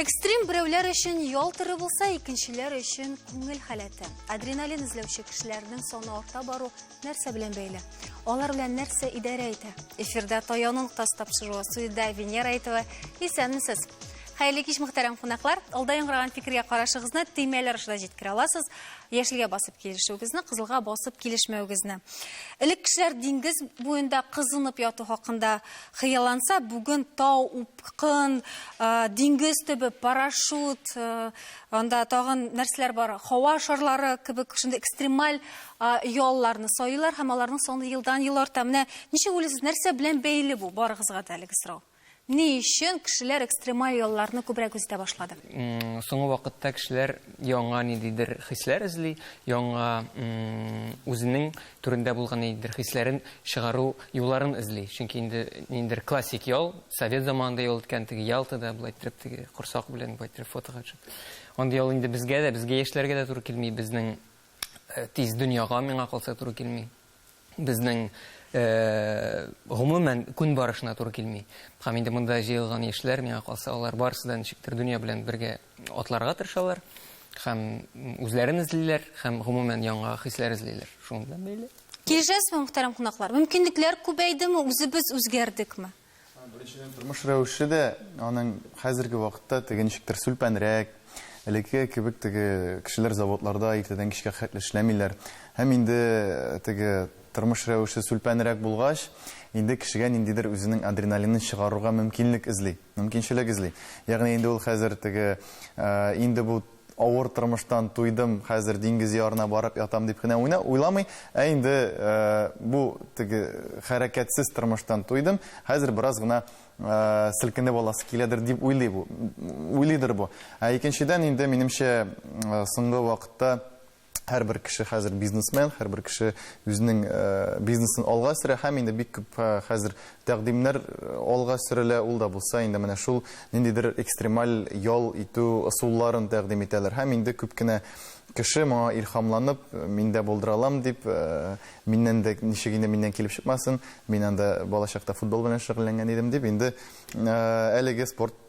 Экстрим берәүләр өчен ял туры булса, икенчеләр өчен күңел халәте. Адреналин эзләүче кешеләрнең саны арта бару Нәрсә белән бәйле? Алар белән нәрсә идарә итә? Эфирдә Таяның тас тапшыруы студиядә Венера Әйтова. Исәнмесез. Хәерле кич мөхтәрәм кунаклар. Алда яңгыраган фикергә карашыгызны төймәләр аша җиткерә аласыз. Яшелгә басып килешүегезне, кызылга басып килешмәвегезне. Элек кешеләр диңгез буенда кызынып яту хакында хыялланса, бүген тау, упкын, диңгез төбе, парашют, Анда тагын нәрсәләр бар? Һава шарлары кебек шундый экстремаль ялларны сайлар һәм аларның саны елдан-ел арта. Менә ничек уйлыйсыз, нәрсә белән бәйле бу? Барыгызга да әлеге сорау. Ни өчен кешеләр экстремаль ялларны күбрәк үзетә башлады? Соңгы вакытта кешеләр яңа ниндидер хисләр эзли, яңа үзенең Түрендә булган ниндидер хисләрен чыгару юлларын эзли. Чөнки инде ниндидер классик ял, совет заманында ял иткән теге Ялтада, болай иттереп теге корсак белән болай иттереп фотога төшеп. Андый ял инде безгә дә, безгә яшьләргә дә туры килми, безнең тиз дөньяга миңа калса туры килми. Безнең гомумән күн барышына туры килми. Һәм инде монда җыелган яшьләр миңа калса, алар барысы да ничектер дөнья белән бергә Атларга тырышалар һәм үзләрен эзлиләр һәм гомумән яңа хисләр эзлиләр. Шуның белән бәйле. Килешәсезме, мөхтәрәм кунаклар? Мөмкинлекләр күбәйдеме, үзебез үзгәрдекме? Беренчедән, тормыш рәвеше дә аның хәзерге вакытта теге ничектер сүлпәнрәк, элекке кебек теге кешеләр заводларда иртәдән кичкә хәтле эшләмиләр. Һәм инде теге тормыш рәвеше сүлпәнрәк булгач, инде кешегә ниндидер үзенең адреналинын чыгарырга мөмкинлек эзли. Мөмкинчелек эзли. Ягъни инде ул хәзер теге, инде бу авыр тормыштан туйдым, хәзер диңгез ярына барып ятам дип кенә уйна, уйламый, ә инде бу теге хәрәкәтсез тормыштан туйдым, хәзер бераз гына селкенеп аласы киләдер дип уйлый бу, уйлыйдыр бу. Ә икенчедән инде, минемчә, соңгы вакытта Һәрбер кеше хәзер бизнесмен, һәрбер кеше үзенең э, бизнесын алга сөрә һәм инде бик күп э, хәзер тәкъдимнәр э, алга сөрелә. Ул да булса инде менә шул ниндидер экстремаль ял итү ысулларын тәкъдим итәләр. Һәм инде күп кенә кеше моңа илхамланып, мин дә булдыра алам дип, миннән дә ничек инде миннән килеп чыкмасын, мин анда балачакта футбол белән шөгыльләнгән идем дип, инде әлеге спорт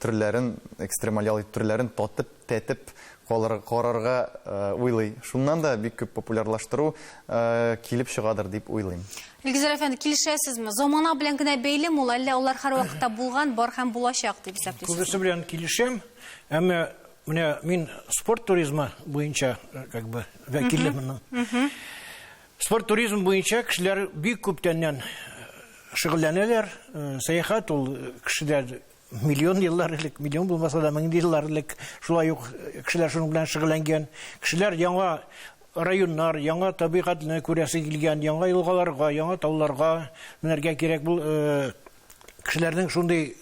төрләрен, экстремаль ял итү төрләрен татып, тәтеп калыр, карарга уйлый. Шуннан да бик күп популярлаштыру килеп чыгадыр дип уйлыйм. Илгизәр әфәнде, килешәсезме? Замана белән генә бәйле мул, әллә алар һәр вакытта булган, бар һәм булачак дип исәплисезме? Күбесе белән килешәм, әмма менә мин спорт туризмы буенча как бы вәкиле моның. Спорт туризм буенча кешеләр бик күптәннән шөгыльләнәләр. Сәяхәт ул кешедә миллион еллар элек, миллион булмаса да мең еллар элек шулай ук кешеләр шуның белән шөгыльләнгән. Кешеләр яңа районнар, яңа табигатьне күрәсе килгән, яңа елгаларга, яңа тауларга менәргә кирәк. Бу кешеләрнең шундый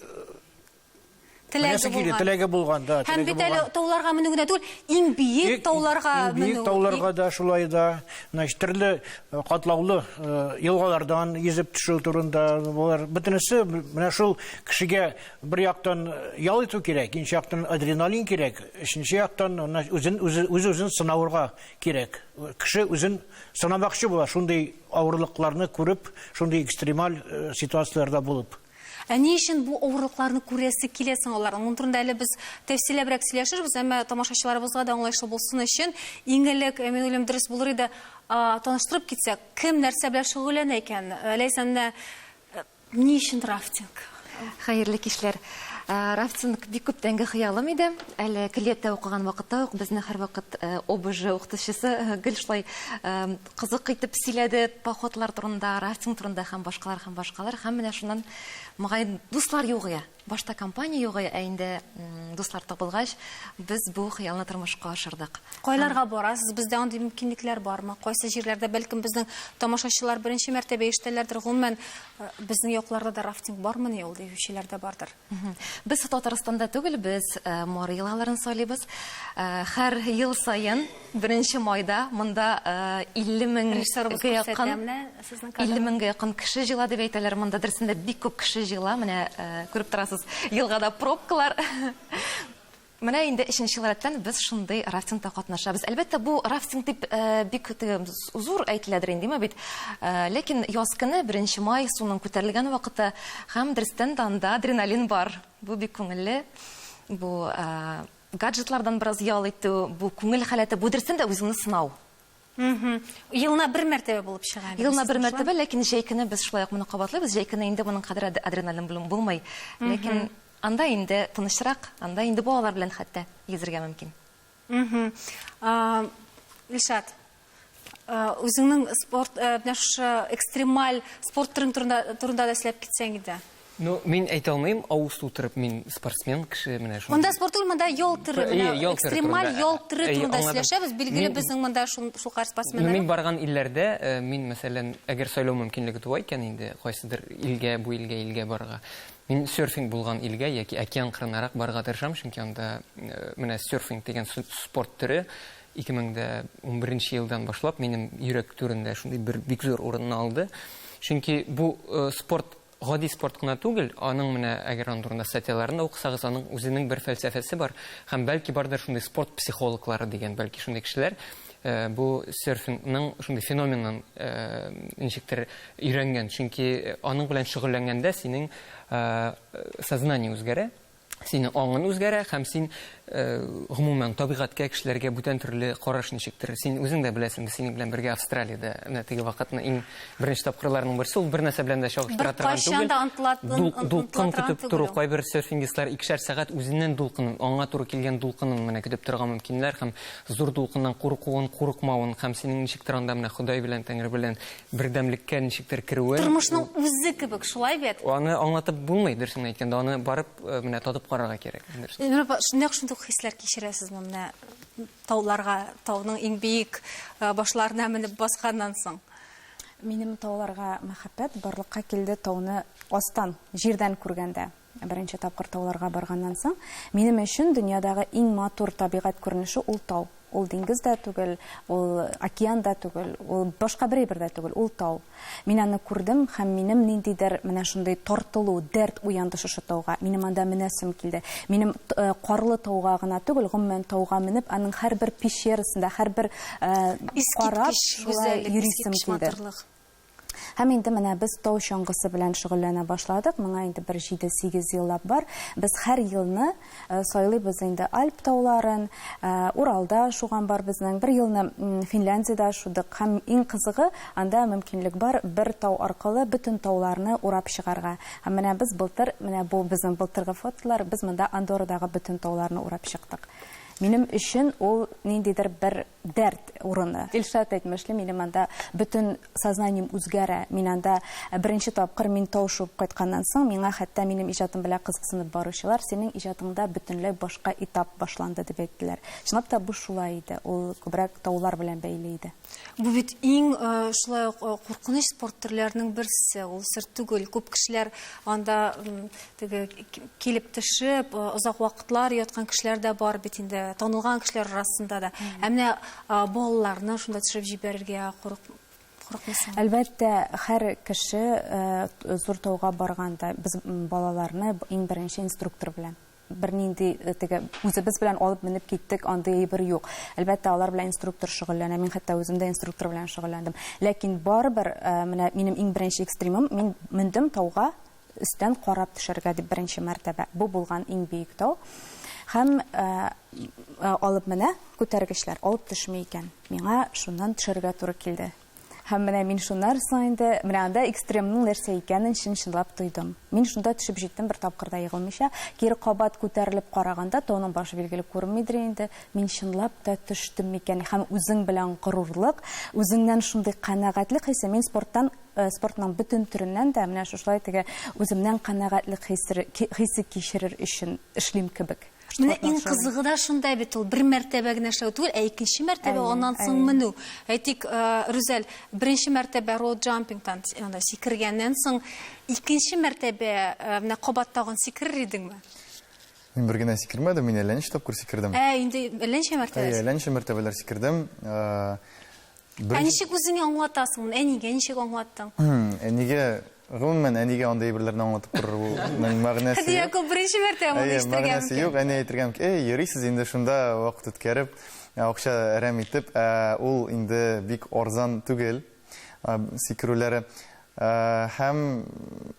Теләге булган. Теләге булган, да. Һәм бит әле тауларга менү генә түгел, иң биек тауларга менү. Биек тауларга да шулай да. Значит, төрле э, катлаулы э, елгалардан йөзеп төшү турында болар бөтенесе менә шул кешегә бер яктан э, ял итү кирәк, икенче яктан адреналин кирәк, өченче яктан үзен үз-үзен сынаурга кирәк. Кеше үзен сынамакчы була, шундый авырлыкларны күреп, шундый экстремаль ситуацияләрдә булып. Ә ни өчен бу авырлыкларны күрәсе килә соң аларның? Моның турында әле без тәфсилләбрәк сөйләшербез, әмма тамашачыларыбызга да аңлаешлы булсын өчен, иң элек, мин уйлыйм, дөрес булыр иде, таныштырып китсәк, кем нәрсә белән шөгыльләнә икән? Ләйсән, менә ни өчен рафтинг? Хәерле кичләр. Рафтинг бик күптәнге хыялым иде. Әле көллияттә укыган вакытта ук безне һәрвакыт ОБЖ укытучысы гел шулай кызык итеп сөйләде походлар турында, рафтинг турында һәм башкалар һәм башкалар. Һәм менә шуннан мөгаен дуслар югыя. Башта компания югыя, ә инде дуслар табылгач, без бу хыялны тормышка ашырдык. Кайларга барасыз? Бездә андый мөмкинлекләр бармы? Кайсы җирләрдә бәлкем безнең тамашачылар беренче мәртәбә ишетәләрдер. Гомумән, э, безнең якларда да рафтинг бармыни ул, диючеләр дә бардыр. Без Татарстанда түгел, без э, Мары елгаларын сайлыйбыз. Э, Хәр ел саен 1 майда монда 50 э, мең Режиссерыбыз гә якын күрсәтә менә сезнең 50 кадрлар. меңгә якын кеше җыела дип әйтәләр. Монда дөресендә бик күп кеше җыела. Менә э, күреп торасыз, елгада пробкалар. Менә инде өченче ел рәттән без шундый рафтингта катнашабыз. Әлбәттә, бу рафтинг дип бик теге зур әйтеләдер инде, имә бит. Ләкин яз көне, беренче май, суның күтәрелгән вакыты һәм дөрестән дә анда адреналин бар. Бу бик күңелле. Бу гаджетлардан бераз ял итү, бу күңел халәте, бу дөрестән дә үзеңне сынау. Елына бер мәртәбә булып чыга. Елына бер мәртәбә, ләкин җәй көне без шулай ук моны кабатлыйбыз. Җәй көне инде моның кадәр адреналин белән булмый. Ләкин анда инде тынычрак, анда инде балалар белән хәтта йөзергә мөмкин. Илшат, үзеңнең спорт, менә шушы экстремаль спорт төрен турында да сөйләп китсәң иде. Ну, мин әйтә алмыйм, авыз тутырып, мин спортсмен кеше, менә шундый. Монда спорт түгел, монда ял төре, менә экстремаль ял төре турында сөйләшәбез. Билгеле, безнең монда шулкадәр спортсменнар. Ну, мин барган илләрдә, мин, мәсәлән, әгәр сайлау мөмкинлеге туа икән инде, кайсыдыр илгә, бу илгә, илгә барырга, мин серфинг булган илгә яки океан кырынарак барырга тырышам, чөнки анда менә серфинг дигән спорт төре 2011 елдан башлап минем йөрәк түрендә шундый бер бик зур урынны алды. Чөнки бу спорт Гади спорт кына түгел, аның менә, әгәр аның турында статьяларын да укысагыз, аның үзенең бер фәлсәфәсе бар, һәм бәлки бардыр шундый спорт психологлары дигән, бәлки шундый кешеләр бу серфингның шундый феноменын ничектер өйрәнгән, чөнки аның белән шөгыльләнгәндә синең сознание үзгәрә, Синең аңың үзгәрә һәм син, гомумән, табигатькә, кешеләргә бүтән төрле караш ничектер. Син үзең дә беләсең, без синең белән бергә Австралиядә менә теге вакытны иң беренче тапкырларның берсе, ул бернәрсә белән дә чагыштыра торган түгел. Беркайчан да онтыла, онтыла, дулкын көтеп тору, кайбер серфингистлар икешәр сәгать үзеннән дулкынын, аңа туры килгән дулкынын менә көтеп торырга мөмкиннәр һәм зур дулкыннан куркуын, курыкмавын һәм синең ничектер анда менә Ходай белән, Тәңре белән Бердәмлеккә ничектер керүе. Тормышның үзе кебек, шулай бит? Аны аңлатып булмый, дөресен әйткәндә, аны барып э, менә татып карарга кирәк. Эльмира апа, нәкъ шундый ук хисләр кичерәсезме менә тауларга, тауның иң биек э, башларына менеп басканнан соң? Минем тауларга мәхәббәт барлыкка килде тауны астан, җирдән күргәндә. Беренче тапкыр тауларга барганнан соң, минем өчен дөньядагы иң матур табигать күренеше ул тау. Ул диңгез дә түгел, ул океан да түгел, ул башка бер әйбер дә түгел, ул тау. Мин аны күрдем һәм минем ниндидер менә шундый тартылу, дәрт уянды шушы тауга. Минем анда менәсем килде. Минем Карлы тауга гына түгел, гомумән тауга менеп, аның һәрбер пещерасында, һәрбер карап, шулай йөрисем килде. Һәм инде менә без тау чаңгысы белән шөгыльләнә башладык. Моңа инде бер җиде-сигез еллап бар. Без һәр елны сайлыйбыз инде Альп тауларын, Уралда шуган бар безнең, бер елны Финляндиядә шудык. Һәм иң кызыгы, анда мөмкинлек бар бер тау аркылы бөтен тауларны урап чыгарга. Һәм менә без былтыр, менә бу безнең былтыргы фотолар, без монда Андоррадагы бөтен тауларны урап чыктык. Минем өчен ул ниндидер бер дәрт урыны. Илшат әйтмешли, минем анда бөтен сознанием үзгәрә. Мин анда э, беренче тапкыр мин тау шуып кайтканнан соң, миңа хәтта минем иҗатым белән кызыксынып баручылар, синең иҗатыңда бөтенләй башка этап башланды дип әйттеләр. Чынлап та бу шулай иде. Ул күбрәк таулар белән бәйле иде. Бу бит иң э, шулай ук э, куркыныч спорт төрләренең берсе. Ул сер түгел. Күп кешеләр анда Теге килеп төшеп, озак вакытлар яткан кешеләр дә бар бит инде, танылган кешеләр арасында да. Ә менә балаларны шунда төшереп җибәрергә курык курыкмыйсың? Әлбәттә, һәр кеше зур тауга барганда без балаларны иң беренче инструктор белән бернинди теге үзебез белән алып менеп киттек, андый әйбер юк. Әлбәттә, алар белән инструктор шөгыльләнә. Мин хәтта үзем дә инструктор белән шөгыльләндем. Ләкин барыбер менә минем иң беренче экстримым, мин мендем тауга Өстән карап төшәргә дип беренче мәртәбә бу булган иң биек тау. Һәм алып менә күтәргечләр, алып төшми икән. Миңа шуннан төшәргә туры килде. Һәм менә мин шуннар соң инде, менә анда экстремның нәрсә икәнен чын-чынлап тойдым. Мин шунда төшеп җиттем бер тапкыр да егылмыйча. Кире кабат күтәрелеп караганда, тауның башы билгеле күренмидер инде. Мин чынлап та төштем микән? Һәм үзең белән горурлык, үзеңнән шундый канәгатьлек хисе. Мин спорттан Спортның бөтен төреннән дә менә шушылай теге үземнән канәгатьлек хисе хисе кичерер өчен эшлим кебек. Менә иң кызыгы да шунда бит ул, бер мәртәбә генә эшләү түгел, ә икенче мәртәбә аннан соң менү. Әйтик, э, Рүзәл, беренче мәртәбә роуд джампингтан анда сикергәннән соң, икенче мәртәбә э, менә кабат тагын сикерер идеңме? Мин бер генә сикермәдем, мин әллә ничә тапкыр сикердем. Ә, инде әллә ничә мәртәбә. Әллә ничә мәртәбәләр сикердем. Э, Ә ничек үзеңә аңлатасың моны? Әнигә ничек аңлаттың? Әнигә, гомумән, әнигә андый әйберләрне аңлатып торырның мәгънәсе юк. Хәдия Якуп беренче мәртәбә моны ишетергә мөмкин. Мәгънәсе юк, әни әйтергә мөмкин. Әй, йөрисез инде шунда вакыт үткәреп, акча әрәм итеп, ә ул инде бик арзан түгел, сикерүләре. Һәм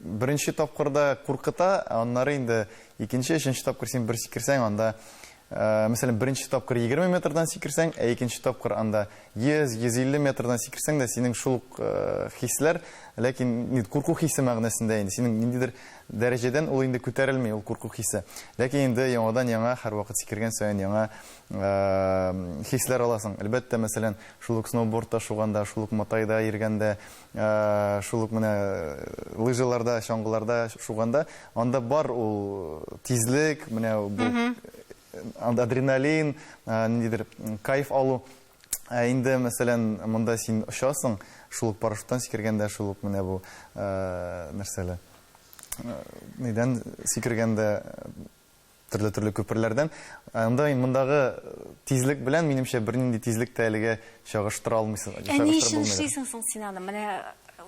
беренче тапкырда куркыта, аннары инде икенче, өченче тапкыр син бер сикерсәң, анда, мәсәлән, беренче тапкыр 20 метрдан сикерсәң, ә икенче тапкыр анда 100-150 метрдан сикерсәң дә, синең шул ук хисләр, ләкин инде курку хисе мәгънәсендә инде, синең ниндидер дәрәҗәдән ул инде күтәрелми, ул курку хисе. Ләкин инде яңадан-яңа, һәрвакыт сикергән саен яңа хисләр аласың. Әлбәттә, мәсәлән, шул ук сноубордта шуганда, шул ук матайда йөргәндә, Шул ук менә лыжаларда, чаңгыларда шуганда, анда бар ул тизлек, менә бу адреналин, ниндидер кайф алу. Ә инде, мәсәлән, монда син очасың, шул ук парашюттан сикергәндә, шул ук менә бу нәрсәле, нидән сикергәндә, Төрле-төрле күперләрдән. Анда ин мондагы тизлек белән, минемчә, бернинди тизлек тә әлегә чагыштыра алмыйсың. Ә ни өчен эшлисең соң син аны? Менә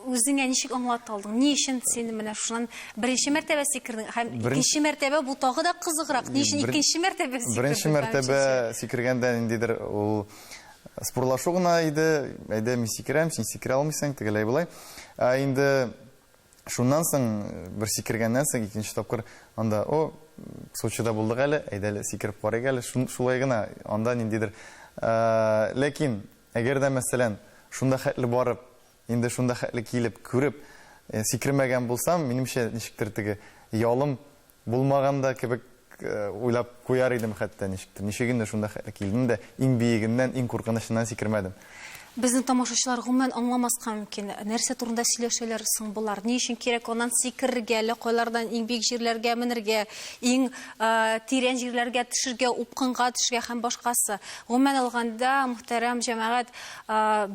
үзеңә ничек аңлата алдың? Ни өчен син менә шуннан беренче мәртәбә сикердең? Һәм икенче мәртәбә бу тагы да кызыграк. Ни өчен икенче мәртәбә сикердең? Беренче мәртәбә сикергәндә ниндидер ул спорлашу гына иде. Әйдә, мин сикерәм, син сикерә алмыйсың, тегеләй-болай. Ә инде Шуннан соң, бер сикергәннән соң, икенче тапкыр анда, о, Сочида булдык әле, әйдә әле сикереп карыйк әле, шулай гына, анда ниндидер. Ләкин, әгәр дә, мәсәлән, шунда хәтле барып, инде шунда хәтле килеп, күреп, сикермәгән булсам, минемчә, ничектер теге ялым Булмаган да кебек уйлап куяр идем хәтта ничектер. Ничек инде шунда хәле килдем дә, иң биегеннән, иң куркынычыннан сикермәдем. Безне тамашачылар гомумән аңламаска мөмкин. Нәрсә турында сөйләшәләр соң болар? Ни өчен кирәк аннан сикерергә, әллә кайлардан иң биек җирләргә менергә, иң тирән җирләргә төшергә, упкынга төшергә һәм башкасы? Гомумән алганда, мөхтәрәм җәмәгать,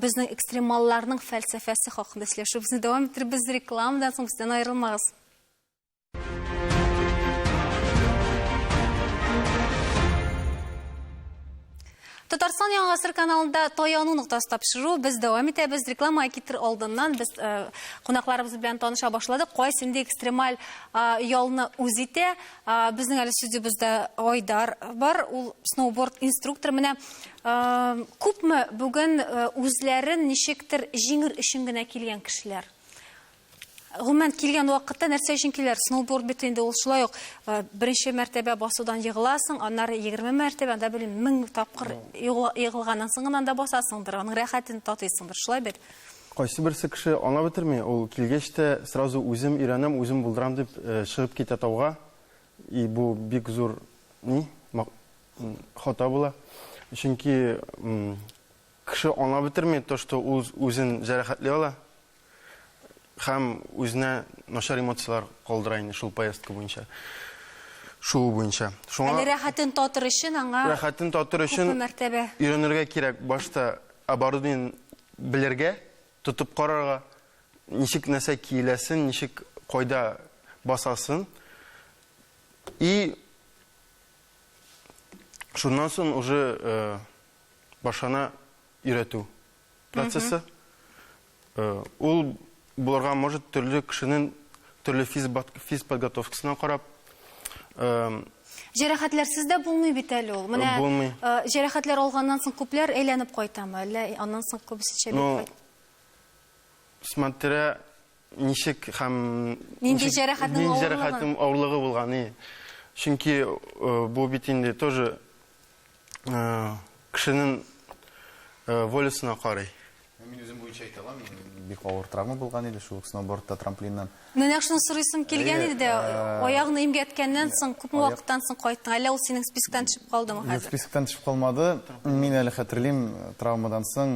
безнең экстремалларның фәлсәфәсе хакында сөйләшүебезне дәвам иттербез. Рекламадан соң бездән аерылмагыз. Татарстан яңа сыр каналында таяну ноктасы тапшыру без дәвам итәбез. Реклама китер алдыннан без э, кунакларыбыз белән таныша башладык. Кайсы инде экстремаль э, ялны үз итә. Э, безнең әле студиябездә Айдар бар. Ул сноуборд инструктор. Менә э, күпме бүген э, үзләрен ничектер җиңер өчен генә килгән кешеләр. Гомумән килгән вакытта нәрсә өчен киләр? Сноуборд бит инде ул шулай ук э, беренче мәртәбә басудан егыласың, аннары 20 мәртәбә, анда белмим, 1000 тапкыр егылганнан соң гына анда басасыңдыр, аның рәхәтен татыйсыңдыр, шулай бит. Кайсы берсе кеше аңа бетерми, ул килгәч тә сразу үзем өйрәнәм, үзем булдырам дип э, чыгып китә тауга. И бу бик зур ни хата була. Чөнки кеше аңа бетерми то, что ул үзен җәрәхәтли ала. Һәм үзенә начар эмоцияләр калдыра инде шул поездка буенча. Шуу буенча. Шуңа... Әле рәхәтен татыр өчен аңа... Рәхәтен татыр өчен... Күпме мәртәбә. Өйрәнергә кирәк башта оборудование белергә, тотып карарга, ничек нәрсә киеләсен, ничек кайда басасын. И шуннан соң уже э, башына өйрәтү. процессы. Э, ул булырга может төрле кешенең төрле физ подготовкасына карап э, Җәрәхәтләрсез дә булмый бит әле ул. Менә Булмый. Э, җәрәхәтләр алганнан соң күпләр әйләнеп кайтамы? Әллә аннан соң күбесенчә бит ну, смотря ничек һәм нинди җәрәхәтнең авырлыгы булганы чөнки э, бу бит инде тоже кешенең волесына карый. Мин үзем буенча әйтә алам, бик авыр травма булган иде шул сноубордта, трамплиннан. Менә шуны сорыйсым килгән иде дә, аягны имгәткәннән соң, күпме вакыттан соң кайттың? Әллә ул синең списоктан төшеп калдымы хәзер? Юк, списоктан төшеп калмады. Мин әле хәтерлим, травмадан соң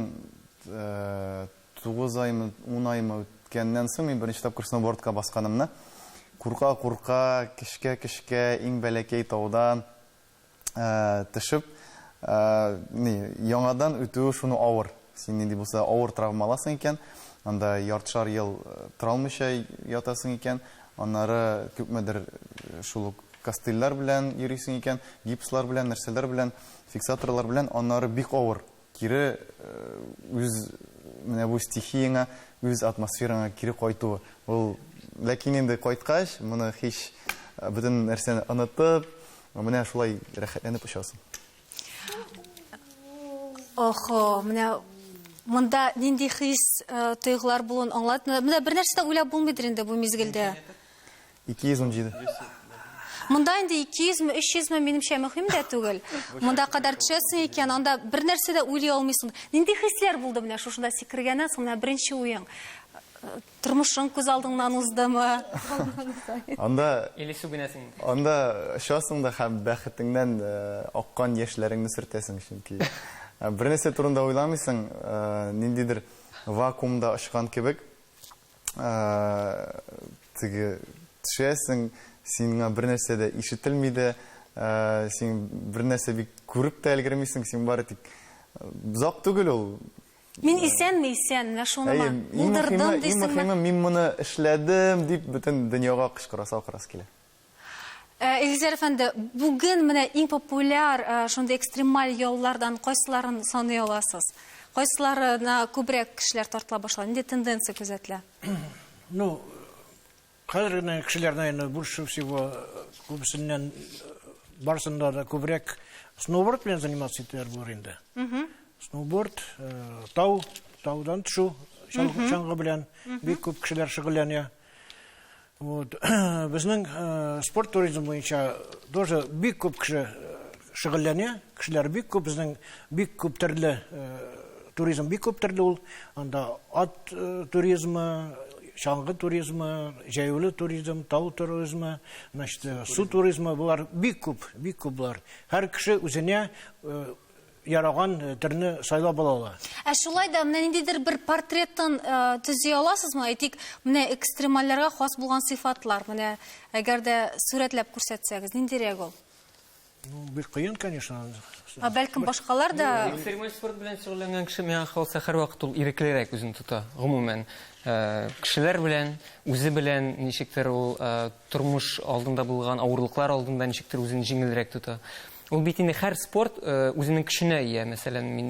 9 аймы, 10 аймы үткәннән соң мин беренче тапкыр сноубордка басканымны, курка-курка, кешкә-кешкә, иң бәләкәй таудан, төшеп, ни, яңадан үтүе шуны авыр. Син нинди булса авыр травма аласың икән, анда яртышар ел тора алмыйча ятасың икән, аннары күпмедер шул ук костыльләр белән йөрисең икән, гипслар белән, нәрсәләр белән, фиксаторлар белән, аннары бик авыр. Кире үз менә бу стихияңә, үз атмосфераңа кире кайту, ул Ләкин инде кайткач, моны һич бөтен нәрсәне онытып, менә шулай рәхәтләнеп очасың. Охо, менә монда нинди хис, тойгылар булуын аңлатмыйлар. Менә бернәрсә дә уйлап булмыйдыр инде бу мизгелдә. 217. Монда инде 200 ме, 300 ме, минемчә, мөһим дә түгел. Монда кадәр төшәсең икән, анда бер нәрсә дә уйлый алмыйсың. Нинди хисләр булды менә шушында сикергәннән соң, менә беренче уең? Э, тормышың күз алдыңнан уздымы? Анда Или сүгенәсең? Анда очасың да һәм бәхетеңнән э, аккан яшьләреңне сөртәсең, чөнки э, бер нәрсә турында уйламыйсың, ниндидер вакуумда очкан кебек. Теге төшәсең, сиңа бер нәрсә дә ишетелми дә, син бер нәрсә бик күреп тә өлгермисең, син бары тик зак түгел ул. Мин исәнме, исән, менә шуныма булдырдым дисеңме? Иң мөһиме, мин моны эшләдем дип бөтен дөньяга кычкырасы, акырасы килә. Э, Илгизәр әфәнде, бүген менә иң популяр э, шундый экстремаль яллардан кайсыларын саный аласыз? Кайсыларына күбрәк кешеләр тартыла башлады? Нинди тенденция күзәтелә? Ну, хәзер генә кешеләр, наверное, больше всего э, күбесеннән барысында да күбрәк сноуборд белән заниматься итәләр булыр инде. Сноуборд, тау, таудан төшү, чаңгы белән бик күп кешеләр шөгыльләнә. Вот. Безнең спорт туризм буенча тоже бик күп кеше шөгыльләнә. Кешеләр бик күп, безнең бик күп төрле туризм бик күп төрле ул. Анда ат туризмы, чаңгы туризмы, җәяүле туризм, тау туризмы, значит, су туризмы, болар бик күп, бик күп болар. Һәр кеше үзенә яраган э, төрне сайлап ала ала. Ә шулай да менә ниндидер бер портреттан э, төзи аласызмы? Әйтик, менә экстремальләргә хас булган сыйфатлар, менә әгәр дә сурәтләп күрсәтсәгез, ниндирәк ул? Ну, бик кыен, конечно. Ә бәлкем башкалар да Экстремаль спорт белән шөгыльләнгән кеше миңа калса һәрвакыт ул иреклерәк үзен тота, гомумән. Э, Кешеләр белән, үзе белән ничектер ул э, Тормыш алдында булган авырлыклар алдында ничектер үзен җиңелрәк тота. Ул бит инде һәр спорт үзенең көченә ия. Мәсәлән, мин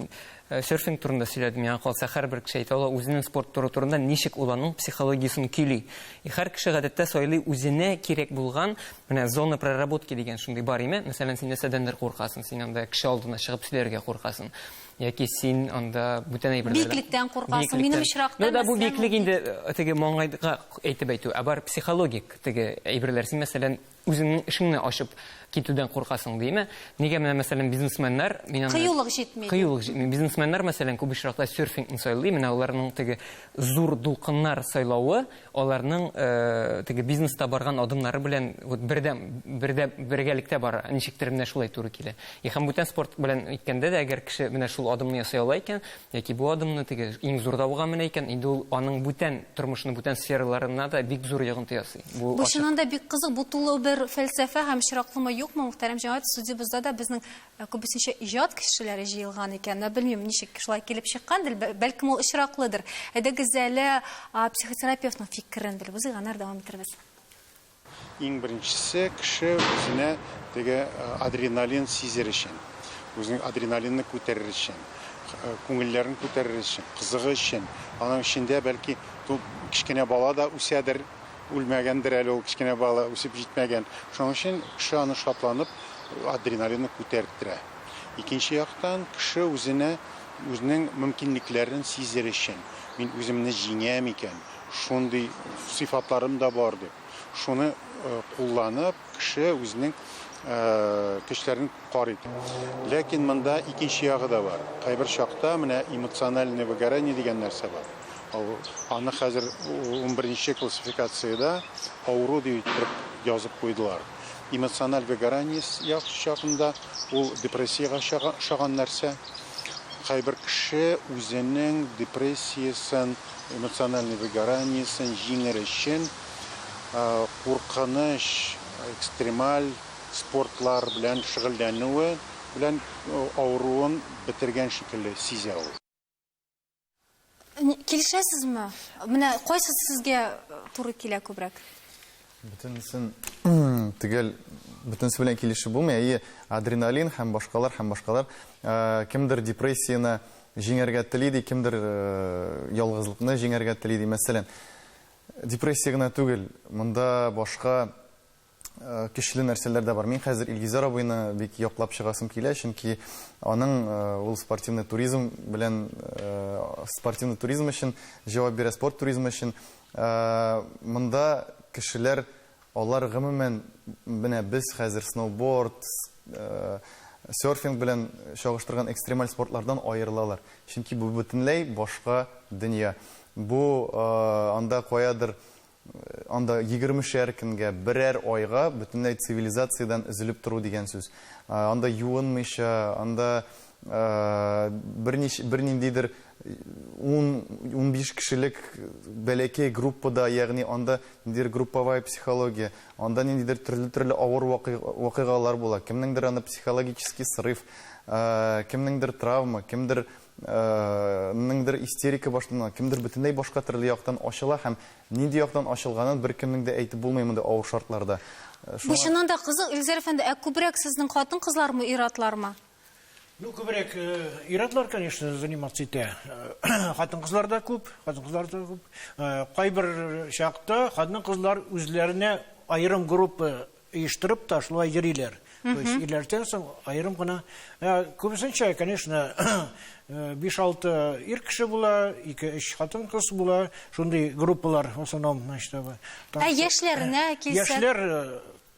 серфинг турында сөйләдем. Миңа калса, һәрбер кеше әйтә ала, үзенең спорт туры турында ничек ул аның психологиясен көйли. И һәр кеше гадәттә сайлый үзенә кирәк булган, менә зона проработки дигән шундый бар име. Мәсәлән, син нәрсәдәндер куркасың, син анда кеше алдына чыгып сөйләргә куркасың. Яки син анда бүтән әйберләр. Биеклектән куркасың, минем очракта. Ну да бу биеклек инде э, теге маңгайга әйтеп әйтү, ә бар психологик теге әйберләр. Син мәсәлән үзеңнең эшеңне ачып китүдән куркасың димә. Нигә менә мәсәлән бизнесменнар мин аны Кыюлык җитми. Кыюлык җитми. Бизнесменнар мәсәлән күп очракта серфингны сайлый. Менә аларның теге зур дулкыннар сайлавы, Аларның теге бизнеста барган адымнары белән вот бердәм, бердә, бергәлектә бара. Ничектер менә шулай туры килә. И һәм бүтән спорт белән әйткәндә дә, әгәр кеше менә шул адымны ясый ала икән, яки бу адымны теге иң зур дауга менә икән, инде ул аның бүтән тормышының бүтән сфераларына да бик зур йогынты ясый. Бу Бу ачык. чыннан да бик кызык, бу тулы бер фәлсәфә һәм чираклымы, юкмы, мөхтәрәм җәмәгать, судебызда да безнең Ә күбесенчә иҗат кешеләре җыелган икән. Менә белмим, ничек шулай килеп чыккандыр, бә- бәлкем ул очраклыдыр. Әйдәгез әле а, психотерапевтның фикерен белеп узыйк, аннары дәвам итәрбез. Иң беренчесе кеше үзенә теге э, адреналин сизер өчен, үзенең адреналинны күтәрер өчен, э, күңелләрен күтәрер өчен, кызыгы өчен, аның эчендә бәлки ту- кечкенә бала да үсәдер, Үлмәгәндер әле ул кечкенә бала, үсеп җитмәгән. Шуның өчен кеше аны шатланып, адреналинны күтәртерә. Икенче яктан, кеше үзенә үзенең мөмкинлекләрен сизер өчен, мин үземне җиңәм икән, шундый сыйфатларым да бар дип, шуны кулланып, Кеше үзенең көчләрен карый. Ләкин монда икенче ягы да бар. Кайбер чакта менә эмоциональное выгорание дигән нәрсә бар. Аны хәзер унберенче классификациядә авыру дип иттереп язып куйдылар. Эмоциональ выгорание чагында ул депрессиягә ошаган нәрсә. Кайбер кеше үзенең депрессиясен, эмоциональный выгораниесен җиңер өчен куркыныч, экстремаль спортлар белән шөгыльләнүе белән авыруын бетергән шикелле сизә ул. Килешәсезме? Менә кайсысы сезгә туры килә күбрәк? Бөтенесен төгәл бөтенесе белән килешеп булмый. Әйе, адреналин һәм башкалар һәм башкалар. Кемдер депрессияне җиңәргә тели ди, кемдер ялгызлыкны җиңәргә тели ди. Мәсәлән, Депрессия гына түгел, монда башка көчле нәрсәләр дә бар. Мин хәзер Илгизәр абыйны бик яклап чыгасым килә, чөнки аның ул спортивный туризм белән спортивный туризм өчен җавап бирә, спорт туризмы өчен. Монда кешеләр Алар гомумән менә без хәзер сноуборд, серфинг белән чагыштырган экстремаль спортлардан аерылалар. Чөнки бу бөтенләй башка дөнья. Бу анда каядыр анда егермешәр көнгә, берәр айга бөтенләй цивилизациядән өзелеп тору дигән сүз. Анда юынмыйча, анда Берничә, берниндидер ун, унбиш кешелек бәләкәй группада, ягъни анда ниндидер групповая психология, анда ниндидер төрле-төрле авыр вакыйгалар була. Кемнеңдер аны психологический срыв, кемнеңдер травма, кемдер неңдер истерика башлана, кемдер бөтенләй башка төрле яктан ачыла һәм нинди яктан ачылганын беркемнең дә әйтеп булмый мондый авыр шартларда. Бу чыннан да кызык, Илгизәр әфәнде, ә күбрәк сезнең хатын-кызлармы, ир-атлармы? Ну, күбрәк ир-атлар, конечно, заниматься итә. Хатын-кызлар да күп, хатын-кызлар да күп. Кайбер чакта хатын-кызлар үзләренә аерым группа оештырып та шулай йөриләр. То есть ирләрдән соң аерым гына. Күбесенчә, конечно, 5-6 ир кеше була, 2-3 хатын-кыз була. Шундый группалар в основном, значит, Ә яшьләренә килсәк? Яшьләр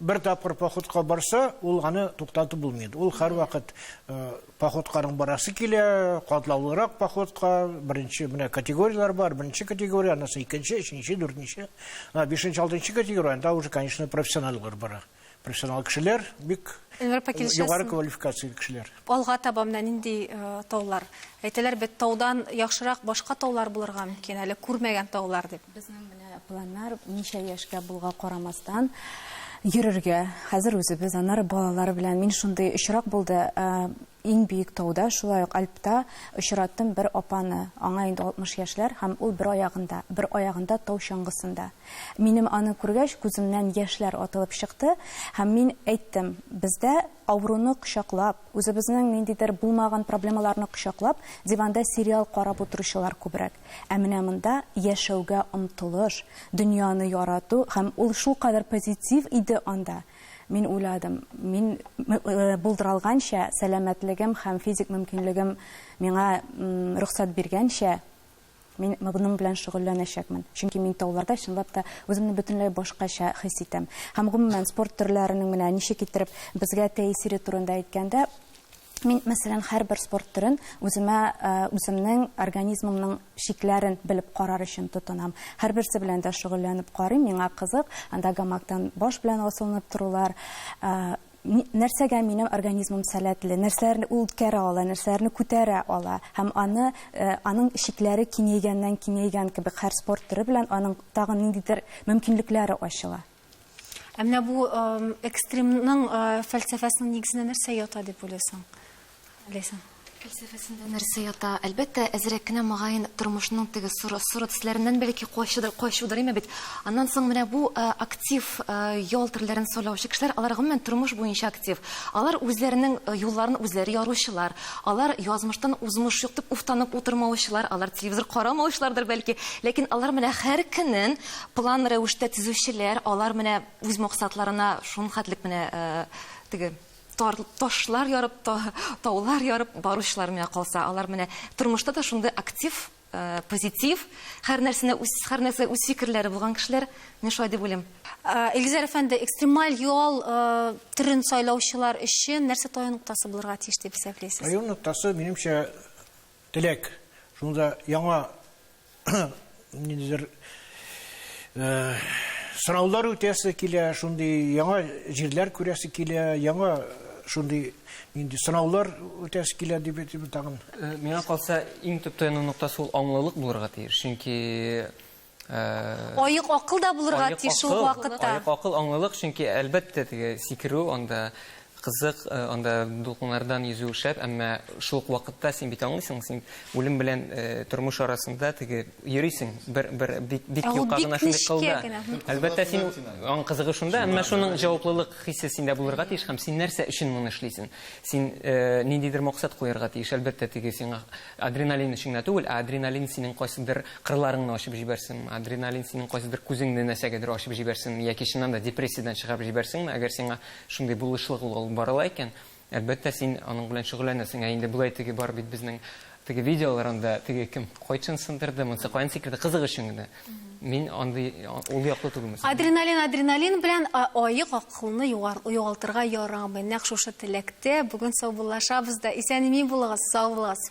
Бер тапкыр походка барса, ул аны туктатып булмый инде. Ул һәрвакыт э, походканың барасы килә, катлаулырак походка, беренче менә категорияләр бар, беренче категория, анысы икенче, өченче, дүртенче. Ана бишенче, алтынчы категория, анда уже, конечно, профессионаллар бара. Профессионал кешеләр бик Эльмир апа, э, килешәсең. югары квалификацияле кешеләр. Алга таба менә нинди э, таулар? Әйтәләр бит, таудан яхшырак башка таулар булырга мөмкин, әле күрмәгән таулар дип. Планнар ничә яшькә булга карамастан йөрергә. Хәзер үзебез, аннары балалар белән. Мин шундый очрак булды, ә, иң биек тауда, шулай ук Альпта очраттым бер апаны. Аңа инде 60 яшьләр һәм ул бер аягында, бер аягында тау чаңгысында. Минем аны күргәч, күземнән яшьләр атылып чыкты һәм мин әйттем, бездә авыруны кочаклап, үзебезнең ниндидер булмаган проблемаларны кочаклап, диванда сериал карап утыручылар күбрәк. Ә менә монда яшәүгә омтылыш, дөньяны ярату һәм ул шулкадәр позитив иде анда. Мин уйладым, мин булдыралганча, сәламәтлегем һәм физик мөмкинлегем миңа рөхсәт биргәнчә, мин моның белән шөгыльләнәчәкмен. Чөнки мин тауларда чынлап та үземне бөтенләй башкача хис итәм. Һәм гомумән, спорт төрләренең менә ничек иттереп безгә тәэсире турында әйткәндә, Мин, мәсәлән, һәрбер спорт төрен үземә үземнең организмымның чикләрен белеп карар өчен тотынам. Һәрберсе белән дә шөгыльләнеп карыйм, миңа кызык. Анда гамактан баш белән асылынып торулар, нәрсәгә минем организмым сәләтле, нәрсәләрне ул үткәрә ала, нәрсәләрне күтәрә ала һәм аны э, аның чикләре киңәйгәннән киңәйгән кебек һәр спорт төре белән аның тагын ниндидер мөмкинлекләре ачыла. Ә менә бу экстремның фәлсәфәсенең нигезенә нәрсә ята дип уйлыйсың? Ләйсән. Фәлсәфәсендә нәрсә ята? Әлбәттә, әзрәк кенә мөгаен тормышның теге соры соры төсләреннән бәлки качыдыр, качудыр име бит. Аннан соң менә бу актив ял төрләрен сайлаучы кешеләр, алар гомумән тормыш буенча актив. Алар үзләренең юлларын үзләре яручылар. Алар язмыштан узмыш юк дип уфтанып утырмаучылар, алар телевизор карамаучылардыр бәлки. Ләкин алар менә һәр көнен План рәвештә төзүчеләр, алар менә үз максатларына шул хәтлек менә теге тар ташлар ярып, таулар ярып баручылар менә калса, алар менә тормышта да шундый актив, позитив, һәр нәрсәне үз, һәр нәрсә үз фикерләре булган кешеләр, мин шулай дип уйлыйм. Илгизәр әфәнде, экстремаль ял төрен сайлаучылар өчен нәрсә таю ноктасы булырга тиеш дип исәплисез? Таю ноктасы, минемчә, теләк. Шунда яңа ниндидер э, сораулар үтәсе килә, шундый яңа җирләр күрәсе килә, яңа э, шундый нинди сынаулар үтәсе килә дип әйтеп тагын. Э, миңа калса, иң төп таяну ноктасы ул аңлылык булырга тиеш. Чөнки Аек акыл да булырга тиеш шул вакытта. Аек акыл аңлылык, чөнки әлбәттә теге сикерү анда Кызык, анда дулкыннардан йөзү шәп, әмма шул ук вакытта син бит аңлыйсың, син үлем белән тормыш арасында теге йөрисең, бер бер бик бик юка гына шундый кылда. Әлбәттә, син аның кызыгы шунда, әмма шуның җаваплылык хисе синдә булырга тиеш һәм син нәрсә өчен моны эшлисең? Син ниндидер максат куярга тиеш, әлбәттә, теге сиңа адреналин өчен генә түгел, ә адреналин синең кайсыдыр кырларыңны ачып җибәрсен, адреналин синең кайсыдыр күзеңне нәрсәгәдер ачып җибәрсен яки чыннан да депрессиядән чыгарып җибәрсенме, әгәр сиңа Шундый булышлык ул алып барыла икән, әлбәттә, син аның белән шөгыльләнәсең. Ә инде болай теге бар бит безнең теге видеолар, анда теге кем кайчан сындырды, монысы каян сикерде, кызык өчен генә. Мин андый ул яклы түгел мисал. Адреналин, адреналин белән аек акылны югалтырга ярамый. Нәкъ шушы теләктә бүген саубуллашабыз да. Исән-имин булыгыз, сау булыгыз.